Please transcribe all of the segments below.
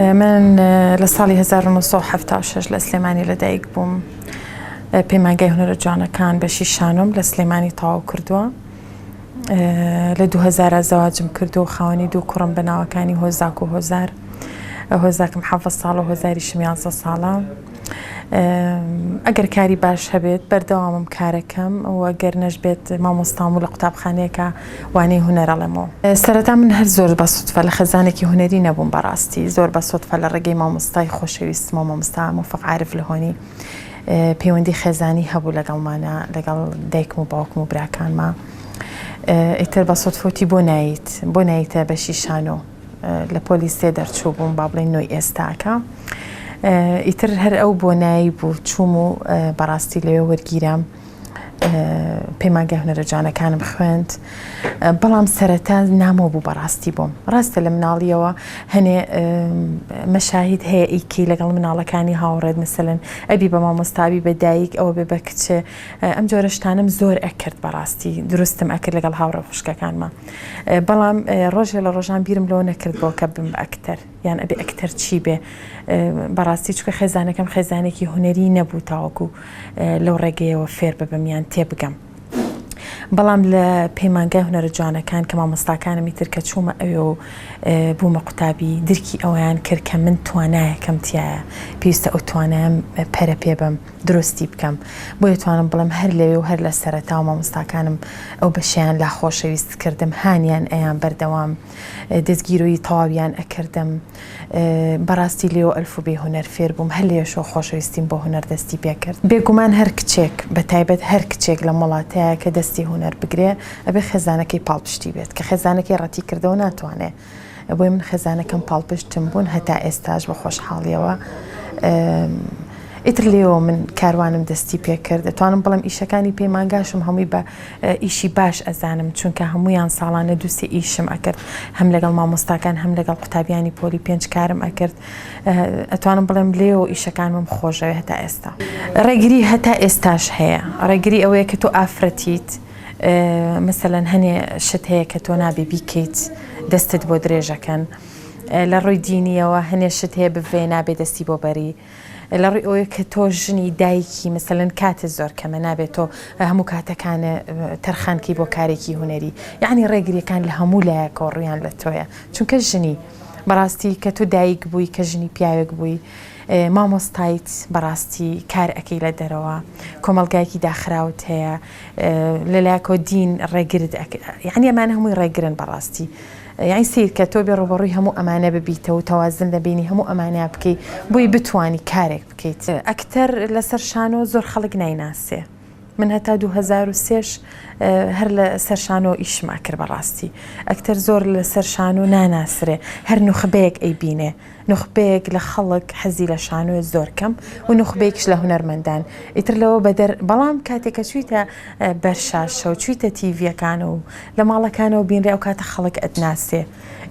من لە ساڵی هەزار و نۆ سەد و حەفتا و شەش لە سلێمانی لەدایک بووم اه، پەیمانگای هونەرە جوانەکان بەشی شانۆم لە سلێمانی تەواو کردووە اه، لە دوو هەزارا زەواجم کردو و خاوەنی دوو کوڕم بە ناوەکانی هۆزاک و هۆزار اه، هۆزاکم حەڤە ساڵە و هۆزاریشم یازدە ساڵە ئەگەر کاری باش هەبێت بەردەوامم کارەکەم و گەر نەشبێت مامۆستام و لە قوتابخانەیەکە وانەی هونەر ئەڵێمەوە. سەرەتا من هەر زۆر بە سوتفە لە خێزانێکی هونەری نەبووم بەڕاستی زۆر بە سوتفە لە ڕێگەی مامۆستای خۆشەویستمەوە مامۆستا موفق عارف لهۆنی پەیوەندی خێزانی هەبوو لەگەڵمانا لەگەڵ دایکم و باوکم و براکانما ئیتر بە سوتفوتی بۆ نایت بۆ نایتە بەشی شانۆ لە پۆلی سێ دەرچوو بووم با بڵێن نۆی ئێستاکە ئیتر هەر ئەو بۆ نایی بوو چووم و بەڕاستی لەوێ وەرگیرام پەیمانگە هەنەرە جوانەکانم خوێند بەڵام سەرەتا نامۆ بوو بەڕاستی بووم ڕاستە لە مناڵیەوە هەنێ مەشاهید هەیە ئیکی لەگەڵ مناڵەکانی هاوڕێت مثلن ئەبی بە مامۆستابی بە دایک ئەوە بێ بە کچێ ئەم جۆرەشتانم زۆر ئەکرد بەڕاستی دروستم ئەکرد لەگەڵ هاوڕە خوشکەکانمان بەڵام ڕۆژێ لە ڕۆژان بیرم لەوە نەکردەوە کە بم ئەکتەر یان ئەبێ ئەکتەر چی بێ بەڕاستی چکە خێزانەکەم خێزانێکی هوەری نەبوو تاوەکو لەو ڕێگەیەوە فێر ببم یان تێبگەم. بەڵام لە پەیمانگای هونەرە جوانەکان کە مامۆستاکانمی تر کە چوومە ئەوێ و بوومە قوتابی درکی ئەویان کرد کە من توانایەکەم تایە پێویستە ئەو توانایەم پەرە پێ بم. دروستی بکەم بۆیە توانم بڵێم هەر لەوێ و هەر لە سەرەتا و مامۆستاکانم ئەو بەشیان لا خۆشەویست کردم هانیان ئەیان بەردەوام دەستگیرۆی تەواویان ئەکردم بەڕاستی لێو ئەلف و بێ هوەر فێر بووم هەر لێشەوە خۆشەویستیم بۆ هوەر دەستی پێکرد بێگومان هەر کچێک بە تایبەت هەر کچێک لەم وڵاتەیە کە دەستی هوەر بگرێ ئەبێ خێزانەکەی پاڵپشتی بێت کە خێزانەکەی ڕەتی کردەوە ناتوانێ بۆی من خێزانەکەم پاڵپشتم بوون هەتا ئێستاش بە خۆشحاڵیەوە ئیتر لێەوە من کاروانم دەستی پێکرد دەتوانم بڵم ئیشەکانی پەیمانگاشم هەمووی بە ئیشی باش ئەزانم چونکە هەمویان ساڵانە دووسێ ئیشم ئەکرد هەم لەگەڵ مامۆستاکان هەم لەگەڵ قوتابیانی پۆلی پێنج کارم ئەکرد ئەتوانم بڵێم لێەوە ئیشەکانم خۆشەوێ هەتا ئێستا ڕێگری هەتا ئێستاش هەیە ڕێگری ئەوەیە کە تۆ ئافرەتیت مەسەلەن هەنێ شت هەیە کە تۆ نابێ بیکەیت دەستت بۆ درێژەکەن لە ڕووی دینیەوە هەنێ شت هەیە بڤێ نابێ دەستی بۆ بەری لە ڕووی ئەوەیە کە تۆ ژنی دایکی مەسەلەن کاتت زۆر کەمە نابێت تۆ هەموو کاتەکانە تەرخانکەی بۆ کارێکی هوەری یعنی ڕێگریەکان لە هەموو لایەکەوە ڕویان لە تۆیە چونکە ژنی بەڕاستی کە تۆ دایک بووی کە ژنی پیاوێک بووی مامۆستایت بەڕاستی کار ئەەکەی لە دەرەوە کۆمەلگایکی داخراوت هەیە لەلایەکەوە دین ڕێگرت یعنی ئەمانە هەمووی ڕێگرن بەڕاستی یعنی سیرکە تۆ بێ ڕوبەڕووی هەموو ئەمانە ببیتە و تەوازن لە بینی هەموو ئەمانە بکەیت بۆی بتانی کارێک بکەیت ئەکتەر لەسەر شانۆ زۆر خەڵک نایناسێ من هەتا 2023 هەر لە سەرشانۆ ئیشم ئەکرد بەڕاستی ئەکتەر زۆر لەسەر شانۆ ناناسرێ هەر نوخبەیەک ئەی بینێ نوخبەیەک لە خەڵک حەزی لە شانۆیە زۆر کەم و نوخبەیەکیش لە هونەرمەندان ئیتر لەوە بەدەر بەڵام کاتێک کە چویتە بەر شاشە و چویتە تیڤیەکان و لە ماڵەکانەوە بینرێ ئەو کاتە خەڵک ئەتناسێ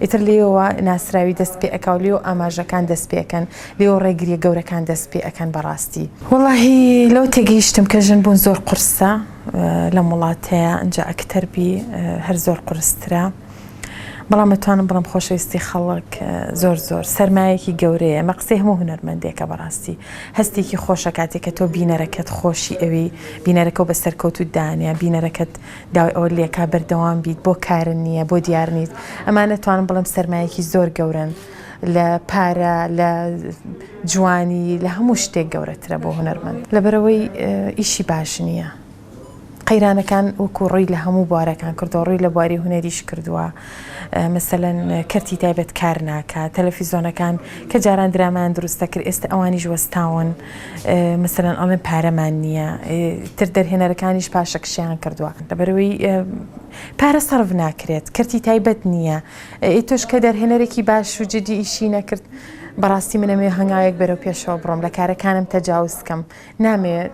ئیتر لێیەوە ناسراوی دەست پێ ئەکا و لێیەوە ئاماژەکان دەست پێ ئەکەن لێیەوە ڕێگریە گەورەکان دەست پێ ئەکەن بەڕاستی وەڵاهی لەوە تێگەیشتم کە ژن بوون زۆر قورسە لەم وڵاتەیا ئەنجا ئەکتەر بی هەر زۆر قورسترە. بەڵام ئەتوانم بڵێم خۆشەویستی خەڵک زۆر زۆر سەرمایەکی گەورەیە ئەمە قسەی هەموو هونەرمەندێکە بەڕاستی هەستێکی خۆشە کاتێک کە تۆ بینەرەکەت خۆشی ئەوی بینەرەکە و بە سەرکەوتوت دانیا بینەرەکەت داوای ئەوە لێکا بەردەوام بیت بۆ کارن نییە بۆ دیار نیت ئەمانە توانم بڵێم سەرمایەکی زۆر گەورن لە پارە لە جوانی لە هەموو شتێک گەورەترە بۆ هونەرمەند لەبەرەوەی ئیشی باش نییە. قەیرانەکان وەکو ڕووی لە هەموو بوارەکان کردووە، ڕووی لە بواری هونەریش کردووە، مەسەلەن کەرتی تایبەت کار ناکات، تەلەفیزۆنەکان کە جاران درامایان دروست دەکرد ئێستە ئەوانیش وەستاون، مەسەلەن ئەڵێن پارەمان نییە، ئیتر دەرهێنەرەکانیش پاشەکشەیان کردووە، لەبەرئەوەی پارە سەرف ناکرێت، کەرتی تایبەت نییە، ئەی تۆش کە دەرهێنەرێکی باش و جیددی ئیشی نەکرد، بەڕاستی من ئەمەوێ هەنگاوێک بەرەو پێشەوە بڕۆم، لە کارەکانم تەجاوز بکەم. نامەوێ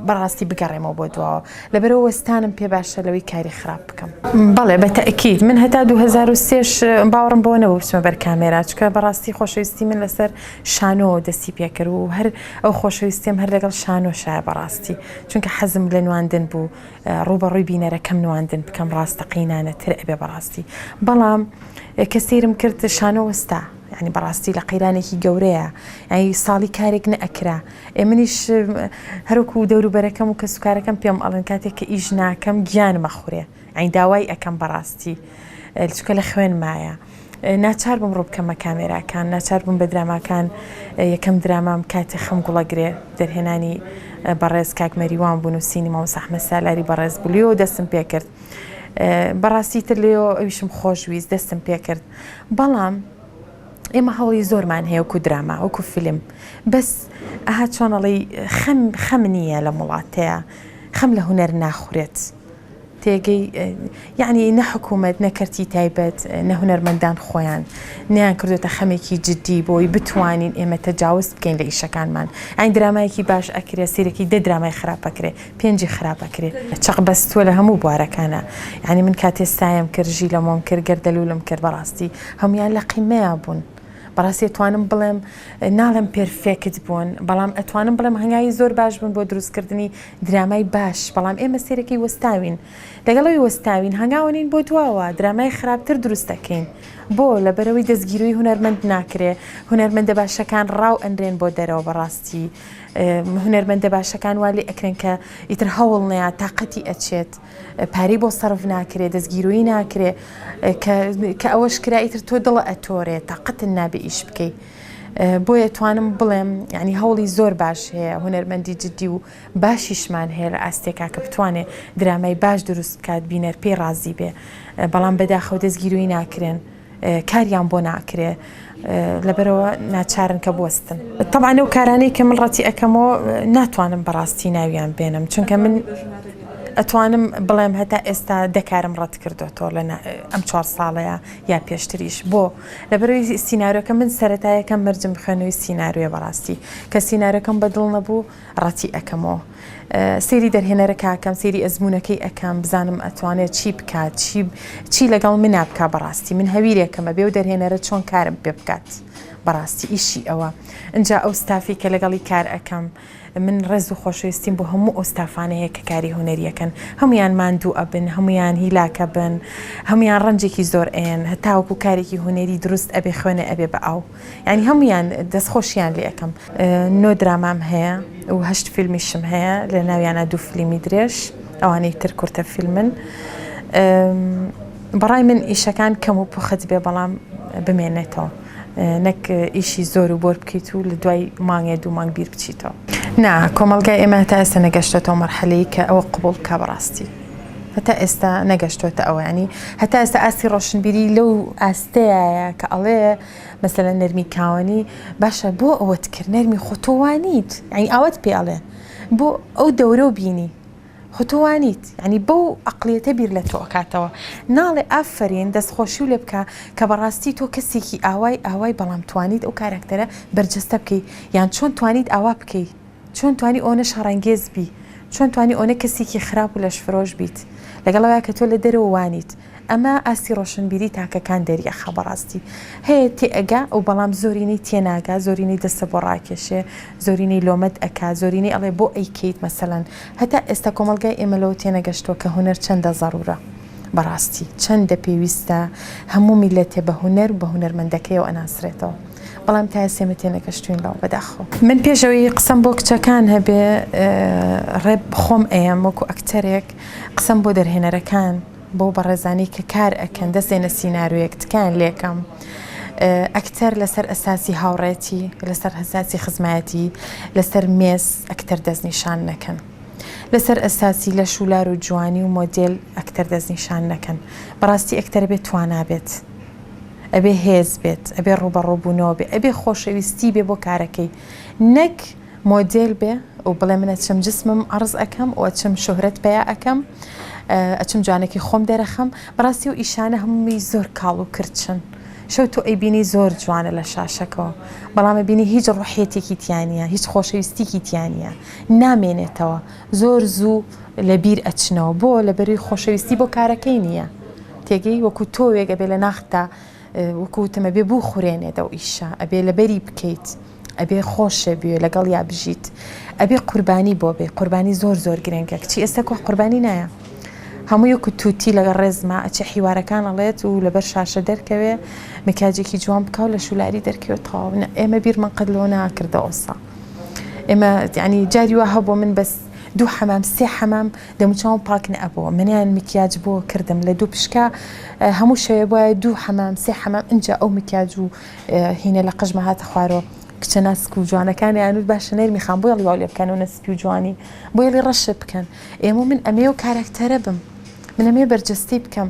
بەڕاستی بگەڕێمەوە بۆ دواوە لەبەرەوە وەستانم پێ باشە لەوەی کاری خراپ بکەم بەڵێ بە تەکیت من هەتا 2023 باوەڕم بۆ نەوە بچمە بەر کامێراچکە بەڕاستی خۆشەویستی من لەسەر شانۆ دەستی پێکرد و هەر ئەو خۆشەویستیم هەر لەگەڵ شانۆ شایە بەڕاستی چونکە حەزم لە نواندن بوو ڕووبەڕووی بینەرەکەم نواندن بکەم ڕاستەقینانە تر ئەبێ بەڕاستی بەڵام کە سیرم کرد شانۆ وەستا ینی بەڕاستی لە قەیرانێکی گەورەیە ئەی ساڵی کارێک نەئەکرا ئێ منیش هەروکو و دەوروبەرەکەم و کە سوکارەکەم پێم ئەڵن کاتێک کە ئیش ناکەم گیان مەخورێ ئەین داوای ئەەکەم بەڕاستی چکە لە خوێن مایە. ناچار بووم ڕووبکەمە کامێراکان ناچار بووم بە دراماکان یەکەم درامام کاتی خەم گوڵە گرێ دەرهێنانی بەڕێز کاک مەریوان بوون و سینی مامۆستا ئەحمەد سالاری بەڕێز بوو لێو دەستم پێ کرد بەڕاستی تر لێو ئەویشم خۆشویست دەستم پێ کرد بەڵام ئێمە هەوڵی زۆرمان هەیە وەکو دراما وەکو فیلم بەس ئەها چۆنەڵی خەم خەم نییە لە وڵاتەیە خەم لە هوەر ناخورێت. تێگەی یەعنی نە حکوومەت نە کەرتی تایبەت نە هونەرمەندان خۆیان نیان کردوێتە خەمێکی جددی بۆی بتوانین ئێمە تەجاوز بکەین لە ئیشەکانمان ئەین درامایەکی باش ئەکرێ سیرەکی دە درامای خراپەکرێ پێنجی خراپەکرێ چەق بەستووە لە هەموو بوارەکانە یعنی من کاتێ سایم کرد ژی لە مۆم کرد گەردەلوولم کرد بەڕاستی هەموان لە قیمەیا بوون. بەڕاستی ئەتوانم بڵێم ناڵێم پێرفێکت بوون بەڵام ئەتوانم بڵێم هەنگاوی زۆر باش بوون بۆ دروستکردنی درامای باش بەڵام ئێمە سێرەکەی وەستاوین لەگەڵ ئەوی وەستاوین هەنگاوە نین بۆ دواوە درامای خراپتر دروست دەکەین بۆ لەبەرەوەی دەستگیروی هونەرمەند ناکرێ هونەرمەندە باشەکان ڕاو ئەنرێن بۆ دەرەوە بەڕاستی هونەرمەندە باشەکان وا لێ ئەکرێن کە ئیتر هەوڵ نەیە تااقەتی ئەچێت پارەی بۆ سەرف ناکرێ دەستگیروی ناکرێ کە ئەوەش کرا ئیتر تۆ دڵە ئەتۆرێ تااقەتن نابێ ئیش بکەیت بۆیە توانم بڵێم یعنی هەوڵی زۆر باش هەیە هونەرمەندی جددی و باشیشمان هەیە لە ئاستێکا کە بتوانێ درامای باش دروست بکات بینەر پێی ڕازی بێ بەڵام بەداخەوە دەستگیروی ناکرێن کاریان بۆ ناکرێ لەبەرەوە ناچارن کە بستن طبعا ئەو کارانەی کە من ڕەتی ئەەکەمەوە ناتوانم بەڕاستی ناویان بێنم چونکە من ئەتوانم بڵێم هەتا ئێستا دەکارم ڕەت کردو تۆ لە ئەم چوار ساڵەیە یا پێشتریش بۆ لەبەرئەوەی سینارۆکە من سەرەتا یەکەم مەرجم بخوێنەوەی سینارۆیە بەڕاستی کە سینارۆکەم بەدڵ نەبوو ڕەتی ئەکەمەوە سێری دەرهێنەرەکە ئەکەم سێری ئەزمونونەکەی ئەکەم بزانم ئەتوانێت چی بکات چی چی لەگەڵ منا بکە بەڕاستی من هەویرێکەمە بێ و دەرهێنەرە چۆن کارم پێ بکات بەڕاستی ئیشی ئەوە ئەجا ئەو ستافی کە لەگەڵی کار ئەەکەم من ڕێز و خۆشەویستیم بۆ هەموو ئەو ستافانە هەیە کە کاری هونەری ئەکەن هەموویان ماندوو ئەبن هەموویان هیلاک ئەبن هەموویان ڕەنجێکی زۆر ئەیەن هەتاوەکو کارێکی هونەری دروست ئەبێ خوێنێ ئەبێ بە ئاو یانی هەموویان دەست خۆشیان لێ ئەکەم نۆ درامام هەیە و هەشت فیلمیشم هەیە لە ناویانە دوو فلیمی درێژ ئەوانەی تر کورتە فیلمن بەڕای من ئیشەکان کەم و پوخت بێ بەڵام بمێنێتەوە. نەک ئیشی زۆر و بۆر بکەیت و لە دوای مانگێ دوو مانگ بیر بچیتەوە. نا، کۆمەڵگای ئێمە هەتا ئێستا نەگەشتۆتەوە مەرحەلەی کە ئەوە قبوڵ بکا بەڕاستی. هەتا ئێستا نەگەشتۆتە ئەوە یانی هەتا ئێستا ئاستی ڕۆشنبیری لەو ئاستەیایە کە ئەڵێ مەسەلەن نەرمی کاوەنی باشە بۆ ئەوەت کرد نەرمی خۆ تۆ وانیت یانی ئاوات پێ ئەڵێ بۆ ئەو دەورە و بینی خۆ تۆ وانیت یانی بەو ئەقڵیەتە بیر لە تۆ ئەکاتەوە ناڵێ ئافەرین دەست خۆشیو لێ بکە کە بەڕاستی تۆ کەسێکی ئاوای ئاوای بەڵام توانیت ئەو کاراکتەرە بەرجەستە بکەی یان چۆن توانیت ئاوا بکەی چۆن توانی ئەونە شەڕەنگێز بی چۆن توانی ئەونە کەسێکی خراپ و لەشفرۆش بیت لەگەڵ ئەوەیە کە تۆ لە دەرەوە وانیت ئەمە ئاستی ڕۆشنبیری تاکەکان دەریەخا بەڕاستی هەیە تێئەگا و بەڵام زۆرینەی تێناگا زۆرینەی دەستە بۆ ڕاکێشێ زۆرینەی لۆمەت ئەکا زۆرینەی ئەڵێ بۆ ئەیکەیت مەسەلەن هەتا ئێستا کۆمەڵگای ئێمە لەوە تێنەگەشتوە کە هونەر چەندە زەرورە بەڕاستی چەندە پێویستە هەموو میللەتێ بە هونەر و بە هونەرمەندەکەیەوە ئەناسرێتەوە بەڵام تا ئێستا ئێمە تێنەگەشتوین لەوە بەداخەوە. من پێش ئەوەی قسەم بۆ کچەکان هەبێ ڕێپ خۆم ئەیەم وەکو ئەکتەرێک قسەم بۆ دەرهێنەرەکان. بۆ بەڕێزانی کە کار ئەکەن دەستێنە سینارۆیەک تکایان لێکەم ئەکتەر لەسەر ئەساسی هاوڕێتی لەسەر هەساسی خزمایەتی لەسەر مێز ئەکتەر دەستنیشان نەکەن لەسەر ئەساسی لە شولار و جوانی و مۆدل ئەکتەر دەستنیشان نەکەن بەڕاستی ئەکتەر بێت توانابێت ئەبێ هێز بێت ئەبێ ڕوبەڕوبوونەوە بێ ئەبێ خۆشەویستی بێ بۆ کارەکەی نەک مۆدێل بێ و بڵێ من ئەچم جسمم عەڕز ئەکەم و ئەچم شۆهرەت پەیا ئەکەم ئەچم جوانێکی خۆم دەرەخەم بەڕاستی و ئیشانە هەمووی زۆر کاڵ و کرچن شەو تۆ ئەیبینی زۆر جوانە لە شاشەکەەوە بەڵام بینی هیچ ڕحێتێکی تیانە هیچ خۆشەویستیکی تیانە نامێنێتەوە زۆر زوو لە بیر ئەچنەوە بۆ لە بەروی خۆشەویستی بۆ کارەکەی نییە تێگەی وەکو تۆوێگە بێ لە ناختا وەکو وتم ئەبێ بوخورێنێت ئەو ئیشە ئەبێ لەبەری بکەیت ئەبێ خۆشێ بوێ لەگەڵ یا بژیت ئەبێ قوربانی بۆ بێ قوربانی زۆر زۆر گرنگە کچی ئێستا کۆ قوربانی نایە هەموو یەکو تووتی لەگە ڕێزما ئەچێ حیوارەکان ئەڵێت و لەبەر شاشە دەرکەوێ مکاجێکی جوان بکاو لە شولاری دەرکەوێت تەواونە ئێمە بیرمان قەت لەوە ناکردە ئۆسا ئێمە ینی جاری وە هەبوو من بەس دوو حەمام سێ حەمام دەموچاوم پاک نەئەبۆ منیان مکیاج بۆ کردم لە دوو پشکا هەموو شەوێ بۆایە دوو حەمام سێ حەمام ئینجا ئەو مکیاج و هینە لە قژمە هاتە خوارەوە کچە ناسک و جوانەکانی ئەنوت باشە نەرمی خان بۆیڵی واو لێ بکەن و نەسپی و جوانی بۆیڵی ڕەشە بکەن ئێمە من ئەمێ و کارەکتەرە بم منەمێ بەرجەستی بکەم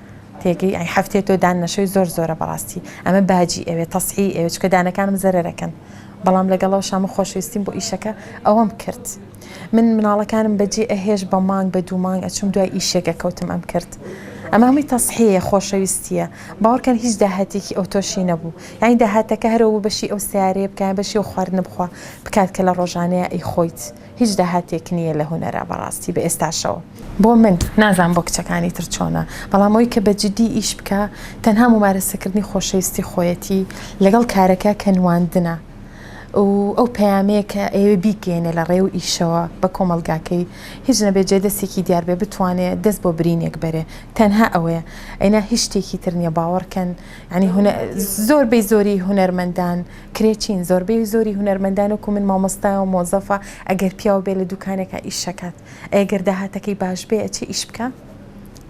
تێگەی ئەی حەفتەیە تۆ دان نەشەوی زۆر زۆرە بەڕاستی ئەمە باجی ئەوێ تەسحی ئەوێ چکە دانەکانم زەرەکەن بەڵام لەگەڵەوە شامە خۆشویستیم بۆ ئیشەکە ئەوەم کرد من مناڵەکانم بەجێ ئەهێش بە مانگ بە دوو مانگ ئەچوم دوای ئیشێکە کەوتم ئەم کرد ئەمە هەمووی تەسحەیە خۆشەویستیە باوەڕکەن هیچ داهاتێکی ئەو تۆشی نەبوو یانی داهاتەکە هەرەوە بەشی ئەو سیارەیە بکەن بەشی و خواردن بخوا بکات کە لە ڕۆژانەیە ئەی خۆیت هیچ داهاتێک نییە لە هونەرا بەڕاستی بە ئێستاشەوە بۆ من نازانم بۆ کچەکانی تر چۆنە بەڵام ئەوی کە بە جدی ئیش بکە تەنها ممارەسەکردنی خۆشەویستی خۆیەتی لەگەڵ کارەکە کە نواندنە و ئەو پەیامەیە کە ئەوێ بیگەێنێ لە ڕێ و ئیشەوە بە کۆمەلگاکەی هیچ نەبێ جێ دەستێکی دیار بێ بتوانێ دەست بۆ برینێک بەرێ تەنها ئەوەیە ئەینا هیچ شتێکی تر نییە باوەڕکەن ینی هونە زۆر بەی زۆری هونەرمەندان کرێچین، زۆربەی زۆری هونەرمەندان وەکو من مامۆستایە و مۆزەفە، ئەگەر پیاو بێ لە دوکانێکا ئیش ئەکات، ئەی ئەگەر داهاتەکەی باش بێ ئەچێ ئیش بکا؟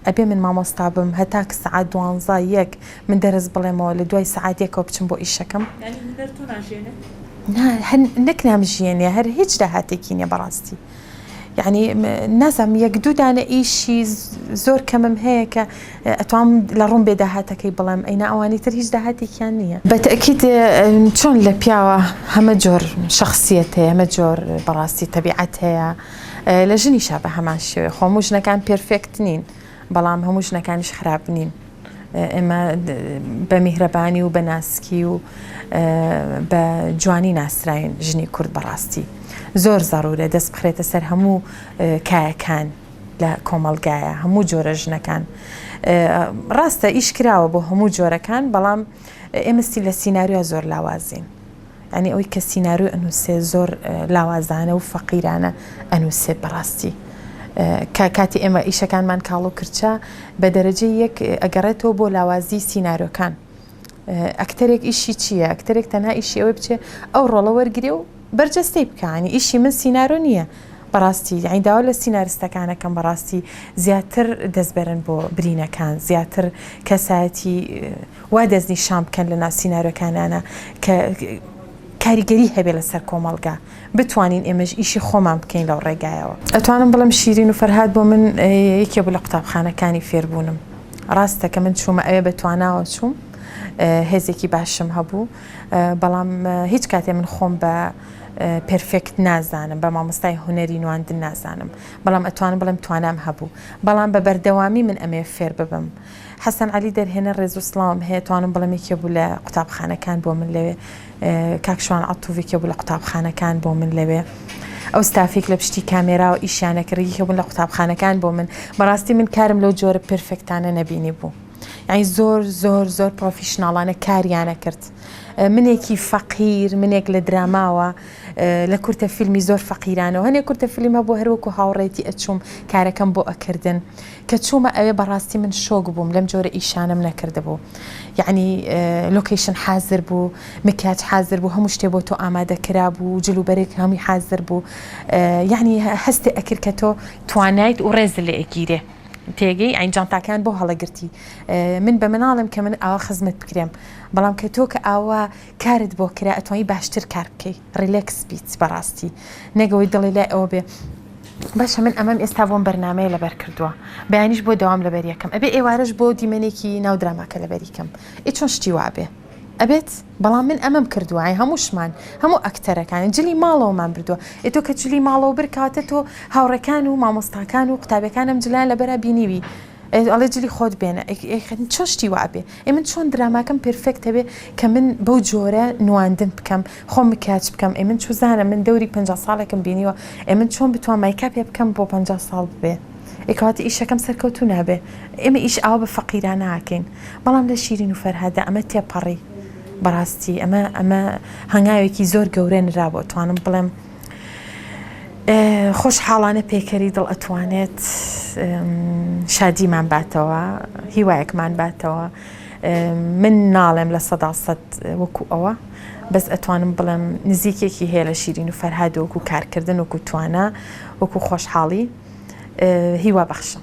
ئەبێ من مامۆستا بم هەتا ک سەعات دوانزە، یەک، من دەرس بڵێمەوە لە دوای سەعات یەکەوە بچم بۆ ئیشەکەم؟ یانی هونەر تۆ ناژیێنێ؟ نا هەر نەک نامژیێنێ هەر هیچ داهاتێکی نیە بەڕاستی. یانی نازانم یەک دوو دانە ئیشی زۆر کەمم هەیە کە ئەتوام لە ڕوون بێ داهاتەکەی بڵێم ئەینا ئەوانی تر هیچ داهاتێکیان نییە بە تەئکید چۆن لە پیاوە هەمە جۆر شەخسیەت هەیە هەمە جۆر بەڕاستی تەبیعەت هەیە لە ژنیشا بە هەمان شێوەیە خۆ هەموو ژنەکان پێرفێکت نین بەڵام هەموو ژنەکانیش خراپ نین ئێمە بە میهرەبانی و بە ناسکی و بە جوانی ناسراین ژنی کورد بەڕاستی زۆر زەڕورە دەست بخرێتە سەر هەموو کایەکان لە کۆمەلگایە هەموو جۆرە ژنەکان ڕاستە ئیش کراوە بۆ هەموو جۆرەکان بەڵام ئێمەستی لە سینناریوە زۆر لاوازین یانی ئەوەی کە سینارۆی ئەنوسێ زۆر لاوازانە و فەقیرانە ئەنوسێ بەڕاستی کە کاتی ئێمە ئیشەکانمان کاڵ و کرچە بە دەرەجەی یەک ئەگەڕێتەوە بۆ لاوازی سینارۆکان ئەکتەرێک ئیشی چییە ئەکتەرێک تەنها ئیشی ئەوەی بچێ ئەو ڕۆڵە وەرگێ و بەرجەستەی بکانی ئیشی من سینارۆ نییە بەڕاستی یعنی داوا لە سینارستەکانەکەم بەڕاستی زیاتر دەستبەرن بۆ برینەکان زیاتر کەسایەتی وا دەستنیشان بکەن لە ناو سینارۆکانانا کە کاریگەری هەبێت لەسەر کۆمەڵگا، بتوانین ئێمەش ئیشی خۆمان بکەین لەو ڕێگایەوە. ئەتوانم بڵێم شیرین و فەرهاد بۆ من یەکێ بوو لە قوتابخانەکانی فێربوونم. ڕاستە کە من چوومە ئەوێ بە تواناوە چووم، هێزێکی باشم هەبوو، بەڵام هیچ کاتێ من خۆم بە پێرفێکت نازانم، بە مامۆستای هونەری نواندن نازانم، بەڵام ئەتوانم بڵێم توانام هەبوو، بەڵام بە بەردەوامی من ئەمەوێ فێر ببم. حەسەن عەلی دەرهێنەر ڕێز و سڵاوم هەیە توانم بڵێم یەکێ بوو لە قوتابخانەکان بۆ من لەوێ کاک شوان عەتوف یەکێ بوو لە قوتابخانەکان بۆ من لەوێ ئەو ستافیک لە پشتی کامێرا و ئیشیانە کە ڕیگی هەبوون لە قوتابخانەکان بۆ من بەڕاستی من کارم لەو جۆرە پرفێکتانە نەبینی بوو یعنی زۆر زۆر زۆر پرۆفیشناڵانە کاریانە کرد منێکی فەقیر منێک لە دراماوە لە کورتە فیلمی زۆر فەقیرانەوە هەنێک کورتە فیلم هەبوو هەروەکو هاوڕێتی ئەچووم کارەکەم بۆ ئەکردن کە چوومە ئەوێ بەڕاستی من شۆک بووم لەم جۆرە ئیشانەم نەکردبوو یەعنی لۆکەیشن حازر بوو مکیاج حازر بوو هەموو شتێ بۆ تۆ ئامادە کرا بوو جل و بەرێک هەمووی حازر بوو یەعنی هەستێ ئەکرد کە تۆ توانایت و ڕێز لێ ئەگیرێ تێگەی ئەین جانتاکان بۆ هەڵەگرتی من بە مناڵم کە من ئاوا خزمەت بکرێم بەڵام کە تۆ کە ئاوا کارت بۆ کرا ئەتوانی باشتر کار بکەی ریلێکس بیت بەڕاستی نەگەوەی دڵی لای ئەوە بێ باشە من ئەمەم ئێستا بۆم بەرنمەیە لەبەر کردووە بەیانیش بۆ داوام لەبەر یەکەم ئەبێ ئێوارش بۆ دیمەنێکی ناو دراماکە لەبەریکەم ئێ چۆن شتی وابێ ئەبێت بەڵام من ئەمەم کردوایە هەمووشمان هەموو ئەکتەرەکانی جلی ماڵەوەمان بردووە ئێتۆ کە جلی ماڵەوە برکاتە تۆ هاوڕەکان و مامۆستاکان و قوتابەکانم جلیان لە بەرا بینیوی ئەی ئەڵێ جلی خۆت بێنە چۆن شتی وابێ ئەی من چۆن دراماکەم پرفێکتە بێ کە من بەو جۆرە نواندن بکەم خۆ مکیاج بکەم ئەی من چوزانە من دەوری پ ساڵێکم بینیوە ئەی من چۆن بتوان مایکا پێ بکەم بۆ پ ساڵ ببێ ئێکاتی ئیشەکەم سەرکەوتو نابێ ئێمە ئیش ئاوا بە فەقیراناکەین بەڵام لە شیرین و فەرهادا ئەمە تێپەڕی بەڕاستی ئەمە ئەمە هەنگاوێکی زۆر گەورە نرا بۆ توانم بڵێم خۆشحاڵانە پەیکەری دڵ ئەتوانێت شادیمان باتەوە هیوایەکمان باتەوە من ناڵێم لە سەدا سەد وەکو ئەوە بەس ئەتوانم بڵێم نزیکێکی هەیە لە شیرین و فەرهاد وەکو کارکردن وەکو توانە وەکو خۆشحاڵی هیوا بەخشم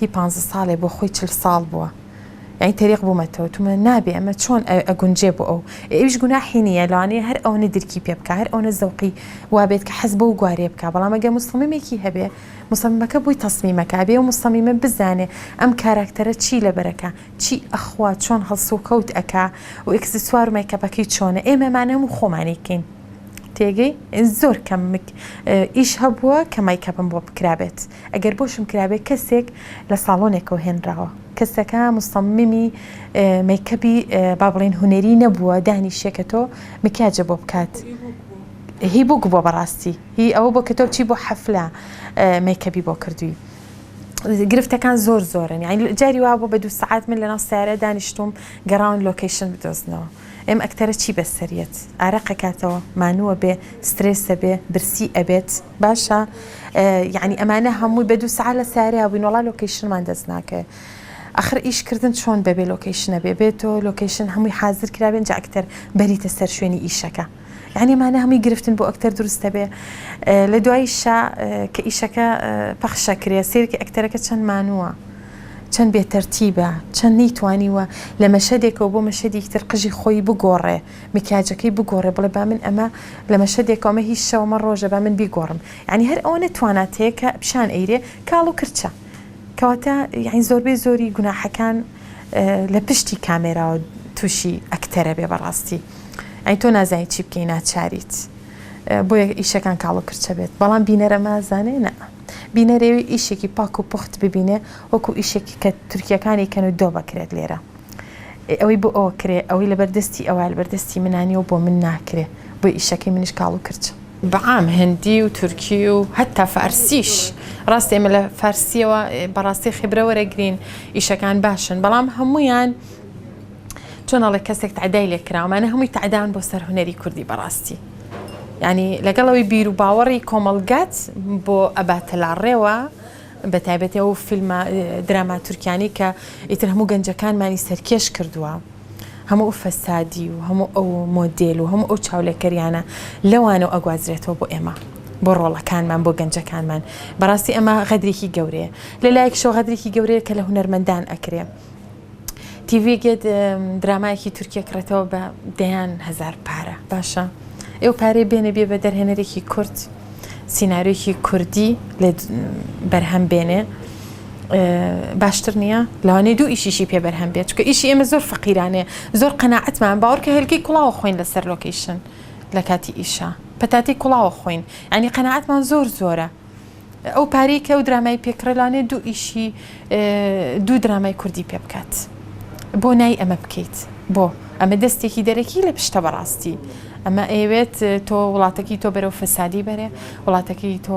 هی پانزە ساڵێ بۆ خۆی چل ساڵ بووە یانی تەریق بوومەتەوە تومە نابێ ئەمە چۆن ئەگونجێ بۆ ئەو ئەویش گوناحی نییە لەوانەیە هەر ئەوەنە درکی پێ بکە هەر ئەوەنە زەوقی وابێت کە حەز بەو گوارێ بکە بەڵام ئەگە مسلممێکی هەبێ مسلممەکە بووی تەسمیمەکە بێ و مسلمیمە بزانێ ئەم کاراکتەرە چی لەبەرەکە چی ئەخوا چۆن هەڵسو کەوت ئەک و ئکسسوار و مەیکەپەکەی چۆنە ئێمەمانە هەموو خۆمانیکەین تێگەی زۆر کەم ئیش هەبووە کە مەیکەپم بۆ بکرابێت ئەگەر بۆشم کرابێ کەسێک لە ساڵۆنێکەوە هێنراوە کەسەکە مصممی مەیکەبی با بڵێن هونەری نەبووە دانیشێ کە تۆ مکیاجە بۆ بکات هی بووک بۆ بەڕاستی هی ئەوە بۆ کە تۆ چی بۆ حەفلە مەیکەبی بۆ کردووی گرفتەکان زۆر زۆرن یان جاری وا بۆ بە دوو سعات من لەناو سیارە دانیشتوم گەڕاون لۆکەیشن بدۆزنەوە ئێم ئەکتەرە چی بەسەریت ئارەقەکاتەوە مانووە بێ سترێسە بێ برسی ئەبێت باشە یەعنی ئەمانە هەمووی بە دوو سعات لە ساریا بووین وڵا لۆکەیشنمان دەست ناکەێ ئەخر ئیشکردن چۆن بەبێ لۆکەیشنە بێ بێت تۆ لۆکەیشن هەمووی حازر کرابێن جا ئەکتەر بەریتە سەر شوێنی ئیشەکە یعنی مانە هەمووی گرفتن بۆ ئەکتەر دروستە بێ لە دوای شا کە ئیشەکە پەخشە کرێ سێرکی ئەکتەرەکە چەند مانووە چەند بێتەرتیبە چەند نەیتوانیوە لە مەشەدێکەوە بۆ مەشەدیکتر قژی خۆی بگۆڕێ مکیاجەکەی بگۆڕێ بڵێ با من ئەمە لە مەشەدێکە ئەمە هی شەوە ئەمە ڕۆژە با من بیگۆڕم یانی هەر ئەوەنە توانات هەیە کە پیشان ئەیرێ کاڵ و کرچە کەواتە یعنی زۆربەی زۆری گوناحەکان لە پشتی کامێراوە تووشی ئەکتەرە بێ بەڕاستی ئەین تۆ نازانی چی بکەی ناچاریت بۆ ئیشەکان کاڵ و کرچە بێت بەڵام بینەرە مازانێ نە بینەرێوی ئیشێکی پاک و پخت ببینێ وەکو ئیشێکی کە تورکیەکانی کەن و دۆ بکرێت لێرە ئێ ئەوەی بۆ ئەوە کرێ ئەوەی لەبەر دەستی ئەوە لەبەر دەستی منا نیە و بۆ من ناکرێ بۆی ئیشەکەی منیش کاڵ و کرچە. بەعام هندی و تورکی و هەتا فارسیش ڕاستە ئێمە لە فارسیەوە بەڕاستی خیبرە وەرەگرین ئیشەکان باشن بەڵام هەموویان چۆن ئەڵێ کەسێک تعدای لێ کراومانە هەمووی تعدان بۆ سەر هونەری کوردی بەڕاستی ینی لەگەڵەوەی بیر و باوەڕی کۆمەڵگات بۆ ئەباتە لاڕێوە بەتایبەتی ئەو فیلمە دراما تورکیانەی کە ئیتر هەموو گەنجەکانمانی سەرکێش کردووە هەموو ئەو فەسادی و هەموو ئەو مۆدێل و هەموو ئەو چاولێکەریانە لەوانەوە ئەگوازرێتەوە بۆ ئێمە بۆ ڕۆڵەکانمان بۆ گەنجەکانمان بەڕاستی ئەمە غەدرێکی گەورەیە لەلایەکشەوە غەدرێکی گەورەیە کە لە هونەرمەندان ئەکرێ تیڤیگێت درامایەکی تورکیە کڕێتەوە بە دەیان هزار پارە باشە ئێو پارەی بێنە بێ بە دەرهێنەرێکی کورد سینناریۆکی کوردی لە بەرهەم بێنێ باشتر نییە لەوانەی دوو ئیشیشی پێ بەرهەم بێت چکە ئیشی ئێمە زۆر فەقیرانێ زۆر قەنەعەتمان باوەڕکە هێلکەی کوڵاوە خۆین لەسەر لۆکیشن لە کاتی ئیشە پەتاتی کوڵاوە خۆین ئەنی قەنەعەتمان زۆر زۆرە ئەو پارەی کە ئەو درامای پێ کڕێ لانێ دوو ئیشی دوو درامای کوردی پێ بکات بۆ نای ئەمە بکەیت بۆ ئەمە دەستێکی دەرەکی لە پشتە بەڕاستی ئەمە ئەیەوێت تۆ وڵاتەکەی تۆ بەرەو فەسادی بەرێ وڵاتەکەی تۆ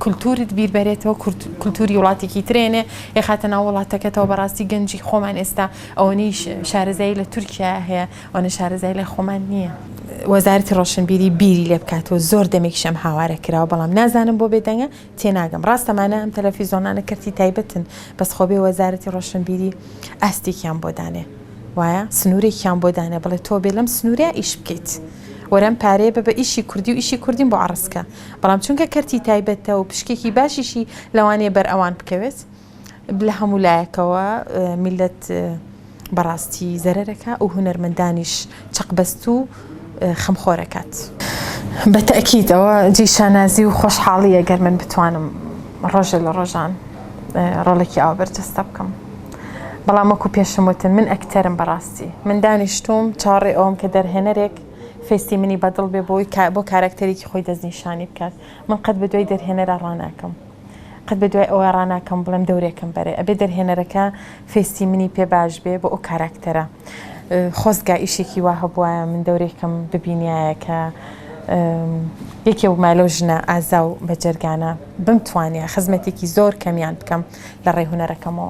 کولتورت بیربەرێتەوە کولتوری وڵاتێکی ترێنێ یخاتە ناو وڵاتەکەتەوە بەڕاستی گەنجی خۆمان ئێستا ئەوەنیش شارەزایی لە تورکیا هەیە ئەوەنە شارەزای لای خۆمان نییە. وەزارەتی ڕۆشنبیری بیری لێ بکاتەوە زۆر دەمێکیشە ئەم هاوارە کراوە بەڵام نازانم بۆ بێدەنگە تێناگەم ڕاستە مانە ئەم تەلەفیزۆنانە کەرتی تایبەتن بەس خۆبێ وەزارەتی ڕۆشنبیری ئاستێکیان بۆ دانێ وایە سنوورێکیان بۆ دانێ بڵێ تۆ بێ لەم سنوورە ئیش بکەیت وەرەم پارەیە بە بە ئیشی کوردی و ئیشی کوردیم بۆ عڕسکە بەڵام چونکە کەرتی تایبەتە و پشکێکی باشیشی لەوانەیە بەر ئەوان بکەوێت لە هەموو لایەکەوە میللەت بەڕاستی زەرەر ئەکا و هونەرمەندانیش چەقبەست و خەمخۆر ئەکات. بە تەئکید ئەوە جێی شانازی و خۆشحاڵییە گەر من بتوانم ڕۆژێ لە ڕۆژان ڕۆڵێکی ئاوا بەرجەستە بکەم. بەڵام وەکو پێشم وتم من ئەکتەرم بەڕاستی. من دانیشتووم چاوەڕێی ئەوەم کە دەرهێنەرێک فێستی منی بەدڵ بێ بۆ ئەوەی بۆ کاراکتەرێکی خۆی دەستنیشانی بکات. من قەت بە دوای دەرهێنەرا ڕاناکەم. قەت بە دوای ئەوە ڕاناکەم بڵێم دەورێکم بەرێ ئەبێ دەرهێنەرەکە فێستی منی پێ باش بێ بۆ ئەو کاراکتەرە خۆزگا ئیشێکی وا هەبواە من دەورێکم ببینایە کە یەکێ ومای لەو ژنە ئازا و بەجەرگانە بمتوانە خزمەتێکی زۆر کەمیان بکەم لە ڕێ هوەرەکەمەوە.